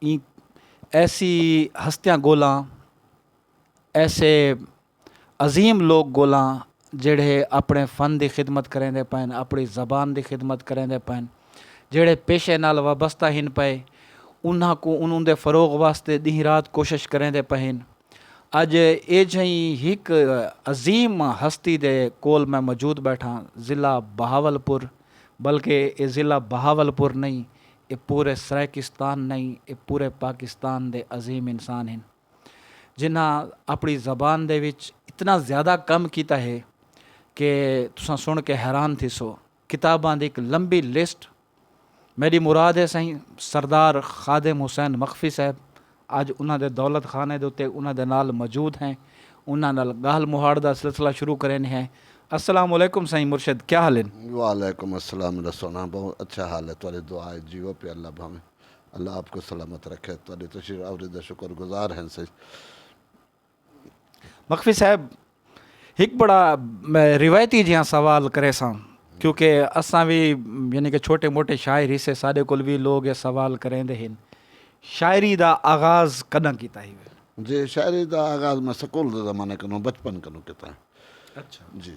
ایں ایسی ہستیاں گولاں ایسے عظیم لوگ گولاں جیڑھے اپنے فن دی خدمت کریندے پئن اپنی زبان دی خدمت کریندے پئن جیڑھے پیشے نال وابستہ ہن پئے انہاں کوں انہوں دے فروغ واسطے ڈینہہ رات کوشش کریندے پئے ہن اج اے جھیں ہک عظیم ہستی دے کول میں موجود بیٹھاں ضلع بہاول پور بلکہ اے ضلع بہاول پور نہیں اے پورے سرائیکستان نئیں اے پورے پاکستان دے عظیم انسان ہن جنہاں اپنڑی زبان دے وچ اتنا زیادہ کم کیتا ہے کہ تساں سنڑ کے حیران تھیسو کتاباں دی ہک لمبی لسٹ میڈی مراد ہے سائیں سردار خادم حسین مخفی صاحب اج انہاں دے دولت خانے دے اتے انہاں دے نال موجود ہیں انہاں نال گالھ مہاڑ دا سلسلہ شروع کریندے ہیں۔ السلام علیکم سائیں مرشد کیا حال ہن؟ وعلیکم السلام میڈا سونا بہوں اچھا حال ہے تہاڈی دعا اچ جیو پیا اللہ بھاویں اللہ آپ کو سلامت رکھے تہاڈی تشریف آوری دا شکر گزار ہیں سائیں۔ مخفی صاحب ہک بڑا روایتی جیہاں سوال کرے ساں کیونکہ اساں وی یعنی کہ چھوٹے موٹے شاعر ہی سے سارے کول وی لوگ یہ سوال کریں دے ہن شاعری دا آغاز کداں کیتا ہی جی شاعری دا آغاز میں سکول دے زمانے کنوں بچپن کنوں کیتا ہے اچھا جی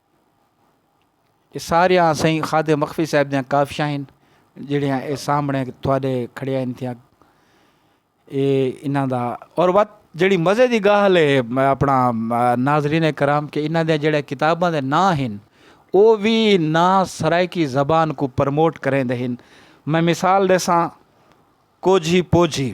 اے ساریاں سئیں خواجہ مخفی صاحب دیاں کافیاں ہن جیڑھیاں اے سامنڑے تہاڈے کھڑیاں ہن تھیاں۔ اے انہاں دا اور وت جیڑھی مزے دی گالھ اے اپنڑا ناظرین کرام کہ انہاں دیاں جیڑھیاں کتاباں دے ناں ہن او وی ناں سرائیکی زبان کوں پرموٹ کریندے ہن۔ میں مثال ڈیساں کوجھی پوجھی۔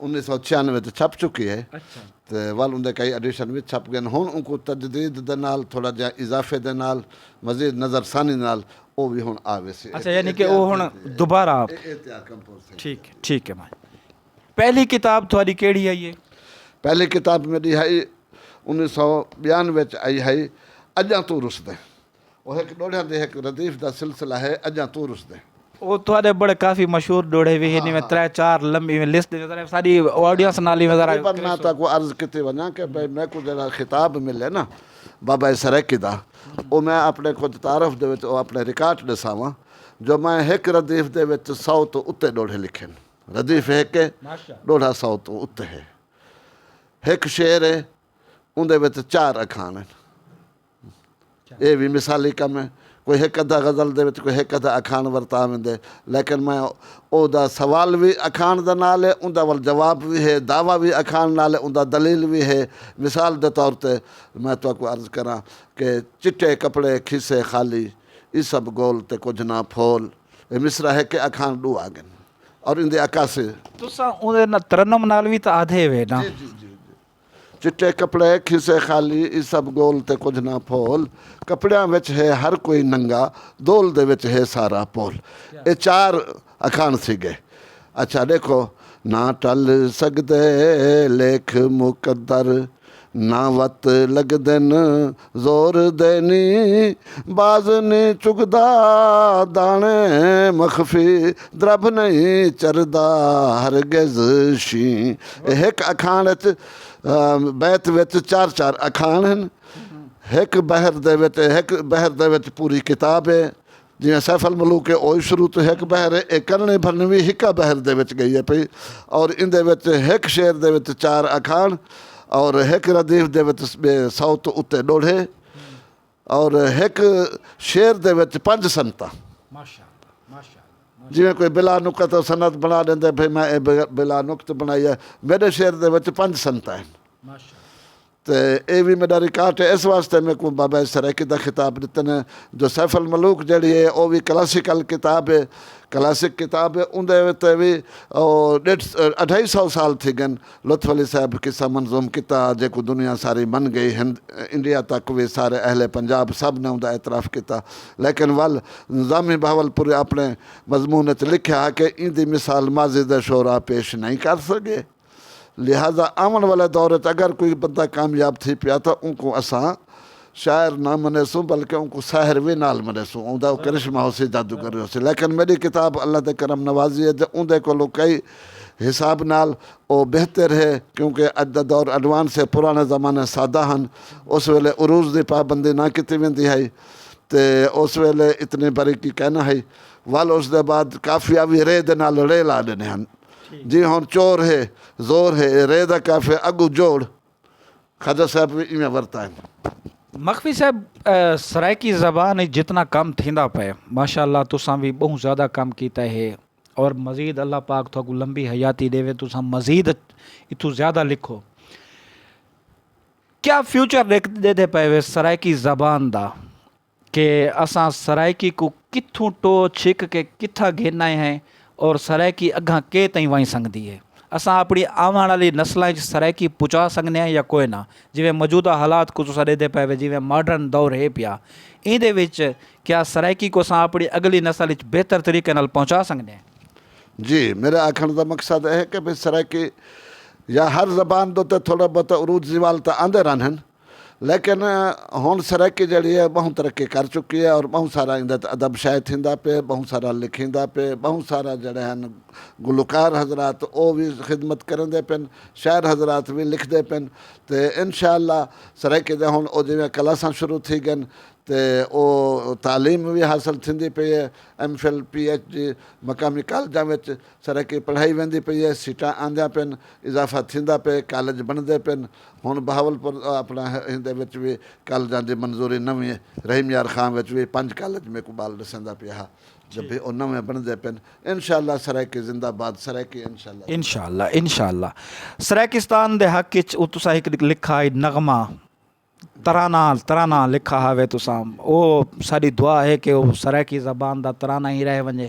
انیس سو چھیانوے اچ چھپ چکی ہے تے ول اوندے کئی ایڈیشن وچ چھپ گئن ہن اونکوں تجدید دے نال تھوڑا جیہاں اضافے دے نال مزید نظر ثانی دے نال او وی ہن آ ویسی اچھا یعنی کہ او ہن دوبارہ آپ ٹھیک ہے ٹھیک ہے مائی پہلی کتاب تھوڑی کیڑی ہئی ہے پہلی کتاب میڈی ہئی انیس سو بیانوے اچ آئی ہئی اجاں توں رسدیں۔ او ہک ݙوڑھیاں دے ہک ردیف دا سلسلہ ہے اڄاں توں رسدیں۔ او تہاݙے بڑے کافی مشہور ݙوڑھے وی ہن ایویں ترے چار لمبی ایویں لسٹ ݙیندے ذرا ساݙی آڈینس نال ایویں ذرا تقریبا میں تہاکوں عرض کیتی ونڄاں کہ بھئی میکوں جیڑھا خطاب ملے نا بابائے سرائیکی دا او میں اپݨے کجھ تعارف دے وچ او اپݨے ریکارڈ ݙساواں جو میں ہک ردیف دے وچ سو توں اتے ݙوڑھے لکھے ہن ردیف ہک ہے ݙوڑھا سو توں اتے ہے ہک شعر ہے اوندے وچ چار اکھاݨ ہن۔ ایہ وی مثالی کم ہے۔ کوئی ہک ادھا غزل دے وچ کوئی ہک ادھا اکھاݨ ورتا ویندے لیکن میں او دا سوال وی اکھاݨ دے نال ہے اوندا ول جواب وی ہے دعوی وی اکھاݨ نال ہے اوندا دلیل وی ہے مثال دے طور تے میں تہاکوں عرض کراں کہ چٹے کپڑے کھیسے خالی ای سب گول تے کجھ نہ پھول ایہ مصرعہ ہک ہے اکھاݨ ݙو آ گن اور ایندی عکاسی تساں اوندے نال ترنم نال وی تاں آدھے وے نا۔ چٹے کپڑے کھیسے خالی ای سب گول تے کجھ نہ پھول کپڑیاں وچ ہے ہر کوئی ننگا دول دے وچ ہے سارا پول اے چار اکھاݨ تھی ڳئے اچھا ݙیکھو نہ ٹل سڳدے لیکھ مقدر نہ وت لڳدن زور دے نی باز نی چگدا داݨے مخفی دربھ نئیں چردا ہرگز شیں اے ہک اکھاݨ اچ بیت وچ چار چار اکھاݨ ہن ہک بحر دے وچ ہک بحر دے وچ پوری کتاب اے جیئں سیف الملوک اے اوہی شروع توں ہک بحر اے، اے کرنڑیں بھرنڑیں وی ہکا بحر دے وچ گئی اے پئی اور ایندے وچ ہک شعر دے وچ چار اکھاݨ اور ہک ردیف دے وچ ٻئے سو توں اتے ݙوڑھے اور ہک شعر دے وچ پنج سنتاں جیویں کوئی بلا نکت اور سنت بنڑا ݙیندے بھئی میں اے بلا نکت بنڑائی اے میݙے شعر دے وچ پنج سنتاں ہن تے اے وی میڈا ریکارٹ ہے اس واسطے میکوں بابائے سرائیکی دا خطاب ڈتے نے جو سیف الملوک جیڑھی ہے او وی کلاسیکل کتاب ہے کلاسک کتاب ہے اوندے تے وی ڈیڈھ اڈھائی سو سال تھی گن لطف علی صاحب قصہ منظوم کیتا جیکوں دنیا ساری من گئی ہند انڈیا تک وی سارے اہل پنجاب سب نے اوندا اعتراف کیتا لیکن ول نظامی بہاولپوری اپنے مضمون اچ لکھیا ہا کہ ایندی مثال ماضی دے شعراء پیش نئیں کر سگے۔ لہذا آوݨ والے دور اچ اگر کوئی بندہ کامیاب تھی پیا تاں اونکوں اساں شاعر نہ منیسوں بلکہ اونکوں ساحر وی نال منیسوں اوندا او کرشمہ ہوسی جادوگر وی ہوسی لیکن میݙی کتاب اللہ دی کرم نوازی ہے جو اوندے کولوں کئی حساب نال او بہتر ہے کیونکہ اڄ دا دور ایڈوانس ہے پراݨے زمانے سادہ ہن اس ویلے عروض دی پابندی نہ کیتی ویندی ہئی تے اس ویلے اتنی باریکی کائناں ہئی ول اس دے بعد قافیہ وی رے دے نال رے لا ݙیندے ہن۔ جی ہن چور ہے زور ہے اے رے دا کیفے اگوں جوڑ خواجہ صاحب وی ایویں ورتا ہے۔ مخفی صاحب سرائیکی زبان اچ جتنا کم تھیندا پئے ماشاءاللہ تساں وی بہوں زیادہ کم کیتا ہے اور مزید اللہ پاک تہاکوں لمبی حیاتی ڈیوے تساں مزید اتھوں زیادہ لکھو کیا فیوچر ڈیکھدے پئے وے سرائیکی زبان دا؟ کہ اساں سرائیکی کوں کتھوں ٹو چھک کے کتھاں گھن آئے ہیں اور سرائیکی اگھاں کے تئیں ونج سنگدی ہے۔ اساں اپنی آوݨ آلی نسلاں اچ سرائیکی پچا سنگنے ہیں یا کوئنہ۔ جیویں موجودہ حالات کوں تساں ڈیدھے پئے وے جیویں ماڈرن دور ہے پیا۔ ایندے وچ کیا سرائیکی کوں اساں اپنی اگلی نسل اچ بہتر طریقے نال پہنچا سنگنے ہیں؟ جی، میڈے آکھݨ دا مقصد اے ہے کہ بھئی سرائیکی یا ہر زبان دے اتے تھوڑے بہتے عروج زوال تاں آندے رہن ہن۔ لیکن ہݨ سرائیکی جیڑھی ہے ٻہوں ترقی کر چکی ہے اور ٻہوں سارا ایندے تے ادب شائع تھیندا پئے ٻہوں سارا لکھیندا پئے ٻہوں سارا جیڑھے ہن گلوکار حضرات او وی خدمت کریندے پن شاعر حضرات وی لکھدے پن تے انشاء اللہ سرائیکی دے ہݨ او جیویں کلاساں شروع تھی ڳن تے او تعلیم وی حاصل تھیندی پئی ہے M Phil P H D مقامی کالجاں وچ سرائیکی پڑھائی ویندی پئی ہے سیٹاں آندیاں پن اضافہ تھیندا پئے کالج بݨدے پن۔ ہن بہاولپور اپنڑاں ایندے وچ وی کالجاں دی منظوری نویں رحیم یار خاں وچ وی پنج کالج میکوں بال ڈسیندا پیا ہا جبھی او نویں بنڑدے پن انشاءاللہ سرائیکی زندہ باد سرائیکی انشاءاللہ زندہ باد۔ انشاءاللہ انشاءاللہ سرائیکستان دے حق اچ او تساں ہک لکھا ہئی نغمہ ترانہ ترانہ لکھا ہاوے تساں او ساڈی دعا ہے کہ او سرائیکی زبان دا ترانہ ہی رہ ونجے۔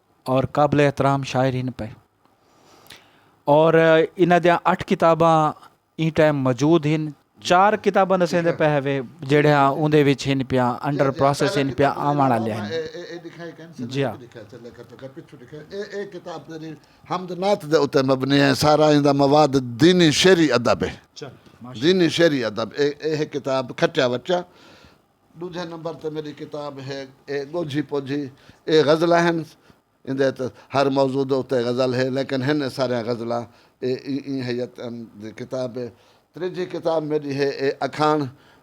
اور قابل احترام شاعر ہن پئے اور انہاں دیاں اٹھ کتاباں ایں ٹائم موجود ہن چار کتاباں دسیندے پئے ہوے جیڑھیاں اوندے وچ ہن پیاں انڈر پروسیس ہن پیاں آوݨ والیاں ہن جی ہاں حمد نعت دے اتے مبنی ہے سارا ایندا مواد دینی شعری ادب ہے دینی شعری ادب اے ہے کتاب کھٹیا وٹیا ݙوجھے نمبر تے میݙی کتاب ہے اے ڳوجھی پوجھی اے غزلاں ہن ایندے اچ ہر موضوع دے اتے غزل ہے لیکن ہن اے ساریاں غزلاں اے ایں ہیئت دی کتاب ہے تریجھی کتاب میݙی ہے اے اکھاݨ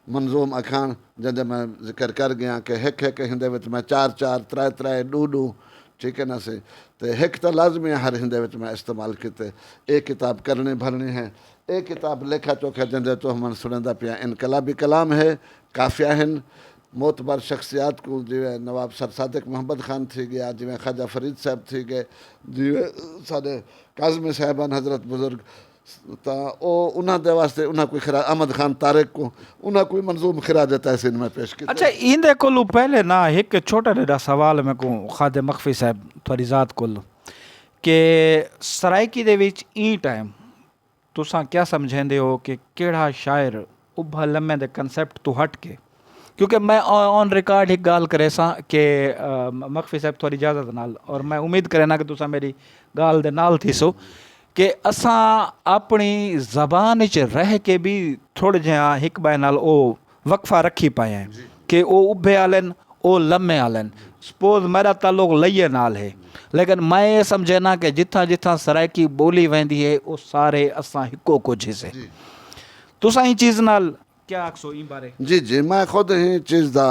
منظوم اکھاݨ جیندے میں ذکر کر ڳیاں کہ ہک ہک ہیندے وچ میں چار چار ترائے ترائے ݙو ݙو ٹھیک ہے نا سی تے ہک تاں لازمی ہے ہر ہیندے وچ میں استعمال کیتے اے کتاب کرݨی بھرݨی ہے اے کتاب لیکھا چوکھا جیندے توں من سݨیندا پیاں انقلابی کلام ہے، قافیہ ہن، معتبر شخصیات کوں جیویں نواب سر صادق محمد خان تھی ڳیا، جیویں خواجہ فرید صاحب تھی ڳئے، جیویں ساݙے کاظمی صاحب ہن حضرت بزرگ تاں او انہاں دے واسطے انہاں کوں خراج احمد خان طارق کوں انہاں کوں منظوم خراج تحسین میں پیش کیتے۔ اچھا ایندے کولوں پہلے نا ہک چھوٹا ݙیݙا سوال میکوں خادم مخفی صاحب تہاݙی ذات کولوں کہ سرائیکی دے وچ ایں ٹائم تساں کیا سمجھیندے ہو کہ کیڑھا شاعر ابھا لمے دے کنسیپٹ توں ہٹ کے کیونکہ میں آن ریکارڈ ہک گالھ کریساں کہ مخفی صاحب تھوڑی اجازت نال اور میں امید کرینا کہ تساں میری گالھ دے نال تھیسو کہ اساں اپنی زبان اچ رہ کے بھی تھوڑے جہاں ہک بائے نال او وقفہ رکھی پائیں کہ او ابھے آلن او لمے آلن سپوز میڈا تعلق لئیے نال ہے لیکن میں اے سمجھینا کہ جتھاں جتھاں سرائیکی بولی ویندی ہے او سارے اساں ہکو کجھ ہسے تساں ایں چیز نال کیا آکھسو ایں بارے؟ جی جی میں خود ایں چیز دا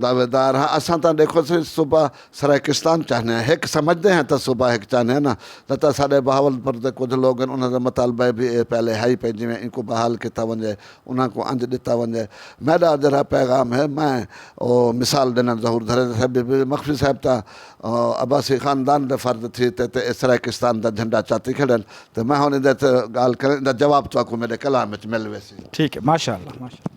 دعوے دار ہاں اساں تاں ڈیکھو سی صوبہ سرائیکستان چاہنے ہاں ہک سمجھدے ہاں تاں صوبہ ہک چاہنے ہاں نا تاں تاں ساڈے بہاولپور دے کجھ لوگ ہن انہاں دا مطالبہ بھی اے پہلے ہئی پئے جیویں اینکوں بحال کیتا ونجے انہاں کوں انج ڈتا ونجے میڈا جیرھا پیغام ہے میں او مثال ڈینن ظہور دھریجہ صاحب بی بی مخفی صاحب تاں عباسی خاندان دے فرد تھی تے تے اے سرائیکستان دا جھنڈا چاتی کھڑن تے میں ہن ایندے تے گال کریں ایندا جواب تہاکوں میڈے کلام وچ مل ویسی۔ ٹھیک ہے ماشاءاللہ ماشاءاللہ۔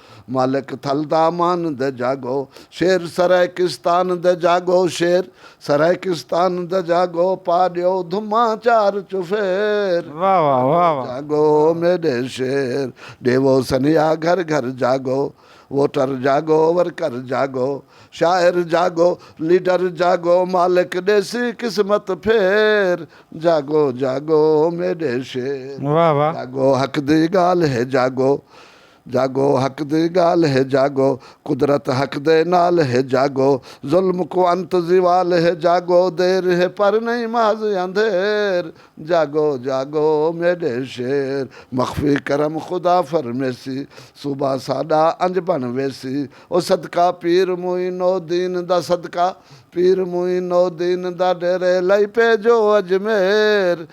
مالک تھل دا امان دے جاگو شیر سرائیکستان دے جاگو شیر سرائیکستان دے جاگو پا ڈیو دھماں چار چوفیر جاگو میڈے شیر ڈیوو سنیا گھر گھر جاگو ووٹر جاگو ورکر جاگو شاعر جاگو لیڈر جاگو مالک ڈیسی قسمت پھیر جاگو جاگو میڈے شیر جاگو حق دی گالھ ہے جاگو جاگو حق دی گالھ ہے جاگو قدرت حق دے نال ہے جاگو ظلم کوں انت زوال ہے جاگو دیر ہے پر نئیں محض اندھیر جاگو جاگو میڈے شیر مخفی کرم خدا فرمیسی صوبہ ساڈا انج بن ویسی او صدقہ پیر معین و دین دا صدقہ پیر معین و دین دا ڈیرے لئی پے جو اجمیر۔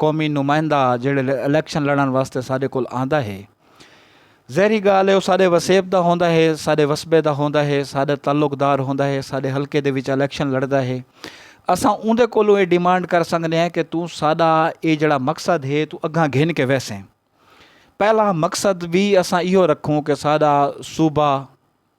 قومی نمائندہ جیڑھے الیکشن لڑن واسطے ساڈے کول آندا ہے ظاہری گالھ ہے او ساڈے وسیب دا ہوندا ہے ساڈے وسبے دا ہوندا ہے ساڈا تعلق دار ہوندا ہے ساڈے حلقے دے وچ الیکشن لڑدا ہے اساں اوندے کولوں اے ڈیمانڈ کر سگدے ہیں کہ توں ساڈا اے جیڑھا مقصد ہے توں اگھاں گھن کے ویسیں پہلا مقصد وی اساں ایہو رکھوں کہ ساڈا صوبہ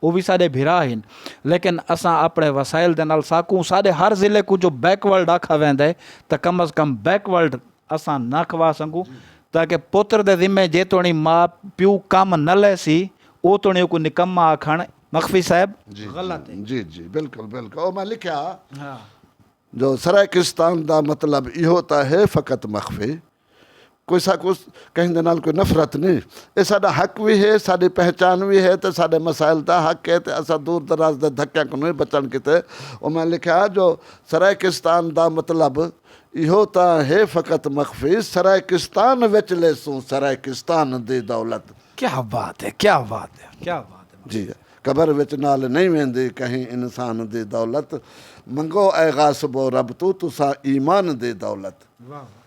او وی ساڈے بھرا ہن لیکن اساں اپنڑے وسائل دے نال ساکوں ساڈے ہر ضلع کوں جو بیک ورلڈ آکھا ویندا ہے تاں کم از کم بیک ورلڈ اساں نہ کھوا سنگوں تاکہ پتر دے ذمے جے توڑیں ماء پیو کم نہ لے سی او توڑیں اوکوں نکمہ آکھن مخفی صاحب جی غلط ہے۔ جی جی جی بلکل بلکل او میں لکھیا جو سرائیکستان دا مطلب ایہو تاں ہے فقط مخفی۔ کوئی ساکوں کہیں دے نال کوئی نفرت نی اے ساڈا حق وی ہے ساڈی پہچان وی ہے تے ساڈے مسائل دا حق ہے تے اساں دور دراز دے دھکیاں کنوں وی بچݨ کیتے انہاں لکھیا جو سرائیکستان دا مطلب ایہو تاں ہے فقط مخفی سرائیکستان وچ لیسوں سرائیکستان دی دولت۔ کیا بات ہے کیا بات ہے کیا بات ہے جی قبر وچ نال نئیں ویندی کہیں انسان دی دولت منگو اے غاصبو رب توں تساں ایمان دی دولت۔ واہ واہ۔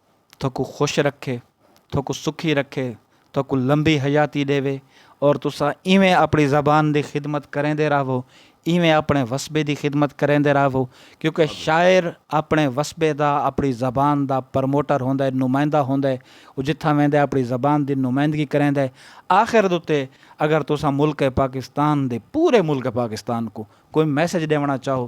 تہاکوں خوش رکھے، تہاکوں سکھی رکھے، تہاکوں لمبی حیاتی ݙیوے اور تساں ایویں اپݨی زبان دی خدمت کریندے رہو، ایویں اپݨے وسبے دی خدمت کریندے رہو کیونکہ شاعر اپݨے وسبے دا، اپݨی زبان دا پروموٹر ہوندا ہے، نمائندہ ہوندا ہے، او جتھاں ویندا ہے اپݨی زبان دی نمائندگی کریندا ہے۔ آخر دے اتے اگر تساں ملک پاکستان دے، پورے ملک پاکستان کوں کوئی میسج ݙیوݨا چاہو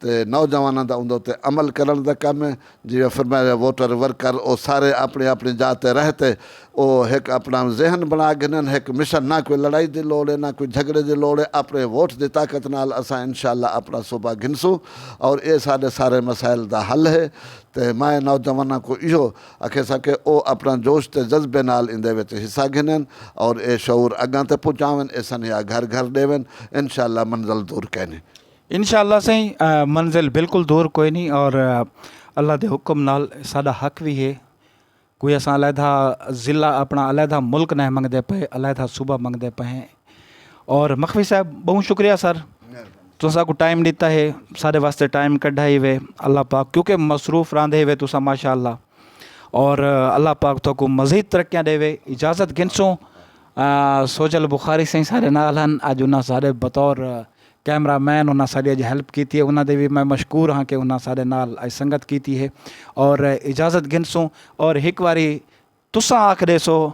تے نوجواناں دا اوندے اتے عمل کرنڑ دا کم اے جیویں فرمایا وے ووٹر ورکر او سارے اپنڑی اپنڑی جاہ تے رہ تے او ہک اپنڑا ذہن بنڑا گھنن ہک مشن نہ کوئی لڑائی دی لوڑ اے نہ کوئی جھگڑے دی لوڑ اے اپنڑے ووٹ دی طاقت نال اساں انشاءاللہ اپنڑا صوبہ گھنسوں اور اے ساڈے سارے مسائل دا حل ہے تے میں نوجواناں کوں ایہو اکھیساں کہ او اپنڑا جوش تے جذبے نال ایندے وچ حصہ گھنن اور اے شعور اگاں تے پہنچاون اے سنیہا گھر گھر ڈیون انشاءاللہ منزل دور کینی۔ انشاءاللہ سئیں منزل بالکل دور کوئی نہیں اور اللہ دے حکم نال ساڈا حق وی ہے کوئی اساں علیحدہ ضلع اپنا علیحدہ ملک نئیں منگدے پئے علیحدہ صوبہ منگدے پئے ہیں اور مخفی صاحب بہوں شکریہ سر تساں ساکوں ٹائم ڈتا ہے ساڈے واسطے ٹائم کڈھا ہیوے اللہ پاک کیونکہ مصروف راہندے ہیوے تساں ماشاءاللہ اور اللہ پاک تہاکوں مزید ترقیاں ڈیوے اجازت گھنسوں سوجل بخاری سئیں ساڈے نال ہن اج انہاں ساڈے بطور کیمرہ مین انہاں ساڈی اج ہیلپ کیتی ہے انہاں دے وی میں مشکور ہاں کہ انہاں ساڈے نال اج سنگت کیتی ہے اور اجازت گھنسوں اور ہک واری تساں آکھ ڈیسو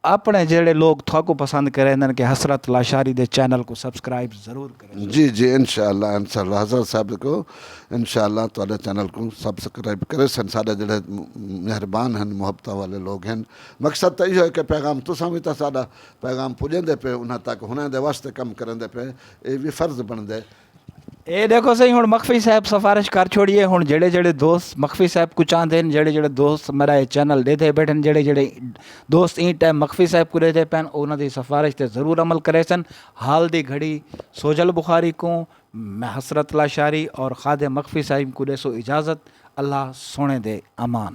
اپنے جیڑھے لوگ تھاکوں پسند کریندن کہ حسرت لاشاری دے چینل کوں سبسکرائب ضرور کریسو۔ جی جی انشاءاللہ انشاءاللہ حسرت صاحب کو انشاءاللہ تہاڈے چینل کوں سبسکرائب کریسن ساڈے جیڑھے مہربان ہن محبتاں والے لوگ ہن مقصد تاں ایہو ہے کہ پیغام تساں وی تاں ساڈا پیغام پجیندے پے انہاں تک ہنڑیں دے واسطے کم کریندے پے اے وی فرض بنڑدے۔ اے ڈیکھو سئیں ہنڑ مخفی صاحب سفارش کر چھوڑی اے ہنڑ جیڑھے جیڑھے دوست مخفی صاحب کوں چاہندے ہن جیڑھے جیڑھے دوست میڈا اے چینل ڈیدھے بیٹھن جیڑھے جیڑھے دوست ایں ٹائم مخفی صاحب کوں ڈیدھے پین او انہاں دی سفارش تے ضرور عمل کریسن حال دی گھڑی سوجھل بخاری کوں میں حسرت لاشاری اور خادم مخفی صاحب کوں ڈیسو اجازت اللہ سوہنڑے دے امان۔